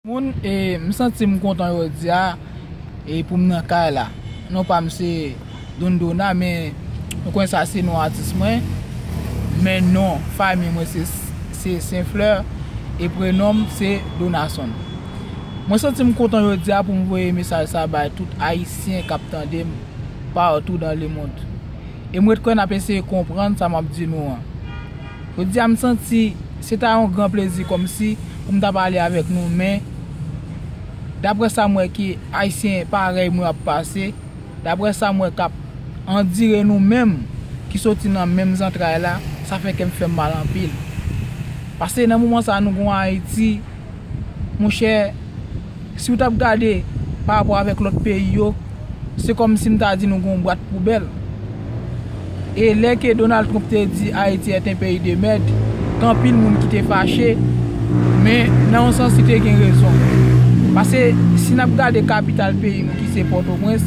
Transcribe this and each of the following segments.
Moun e m santim kontan jodia e poum nan kay la non pam se Don Dona men nou konnen sa se non atis mwen men non fami mwen se Sen Fleur e prenonm se Donasson mwen santim kontan jodia poum voye mesaj sa bay tout ayisyen kap tandem partou dan lemond e m ret kwè nap eseye konprann sa map di nou an. Jodi a m santi se ta yon gran plezi kòmsi pou m ta pale avèk nou men daprè sa m wè ke Ayisyen parèy mwen ap pase, daprè sa m wè k ap andire nou menm ki soti nan menm zantray la, sa fè kè m fè m mal anpil. Pase nan moman sa nou gen yon Ayiti monchè. Si ou tap gade pa rapò avèk lòt peyi yo, se kòm si m ta di nou gen yon bwat poubèl. E lè ke Donald Trump te di Haïti est un pays de merde, gen anpil moun ki te fache, men nan yon sans li te gen rezon. Pase si nap gade kapital peyi nou ki se Pòtoprens,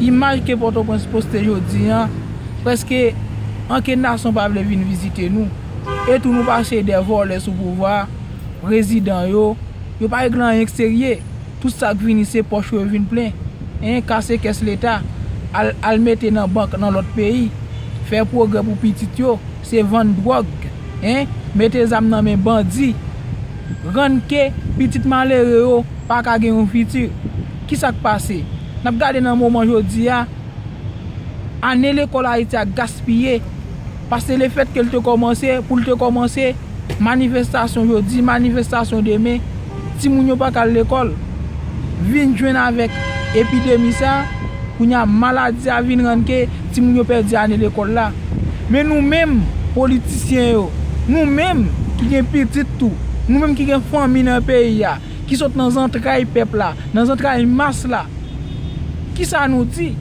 imaj ke Pòtoprens poste jodi an, prèske ankenn nasyon pa vle vin vizite nou. E tou nou pase de vòlè sou pouvwa a. Rezidan yo, yo pa regle anyen k serye, tout sak vini se pòch yo yo vin plen, hein, kase kès leta, al al mete nan bank nan lòt peyi, fè pwogrè pou pitit yo, se vann dwòg, hein, mete zam nan men bandi, rann ke pitit malere yo pa ka gen yon fiti, kisa k pase? Nap gade nan moman jodi a, ane lekòl Ayiti a gaspiye. Pase lefèt ke l te kòmanse, pou l te kòmanse, manifestasyon jodi, manifestasyon demen, timoun yo pa ka al lekòl. Vin jwenn avèk epidemi sa, kounye a maladi a vin rann ke timoun yo pèdi ane lekòl la. Men nou menm, politisyen yo, nou menm ki gen pitit tou, nou menm ki gen fanmi nan peyi a, ki sot nan zantray pèp la, nan zantray mas la, ki sa nou di?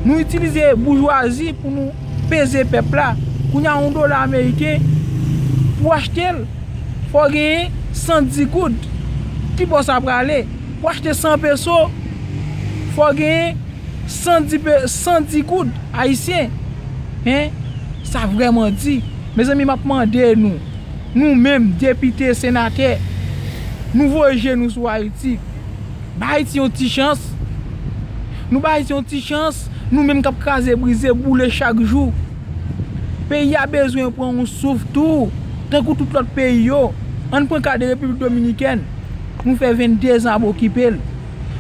Nou itilize boujwazi pou nou peze pèp la, kounye a yon dola ameriken pou achte l, fò genyen 110 goud, ki bò sa prale? Pou achte 100 peso, fò genyen 110 goud ayisyen, hein, sa vrèman di. Mezanmi m ap mande nou. Nou menm, depite, senatè, nou voye je nou sou Ayiti. Bay Ayiti yon ti chans. Nou bay Ayiti yon ti chans, nou menm k ap kraze brize, boule chak jou. Peyi a bezwen pran yon souf tou, tankou tout lòt peyi yo. An n pran ka de Repiblik Dominikèn, nou fè 22 zan ap okipe l.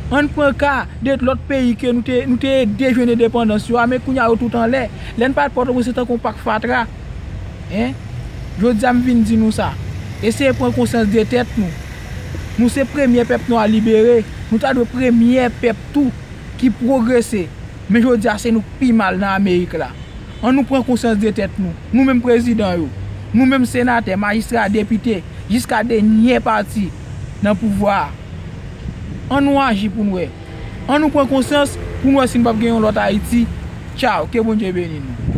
An n pran ka de lòt peyi ke nou te ede jwenn endepandans yo a, men kounye a yo tout anlè. Lè n pale Pòtoprens se tankou yon pak fatra. Hein? Jodi a m vin di nou sa. Eseye pran konsyans de tèt nou. Nou se premye pèp nwa libere. Nou ta dwe premye pèp tou ki pwogrese. Men jodi a se nou k pi mal nan Amerik la. An nou pran konsyans de tèt nou. Nou menm prezidan yo. Nou menm senatè, majistra, depite. Jiska denyè pati nan pouvwa a. An nou aji pou n wè. An nou pran konsyans pou n wè si n p ap gen yon lòt Ayiti. Tchaw. Ke Bondye beni nou.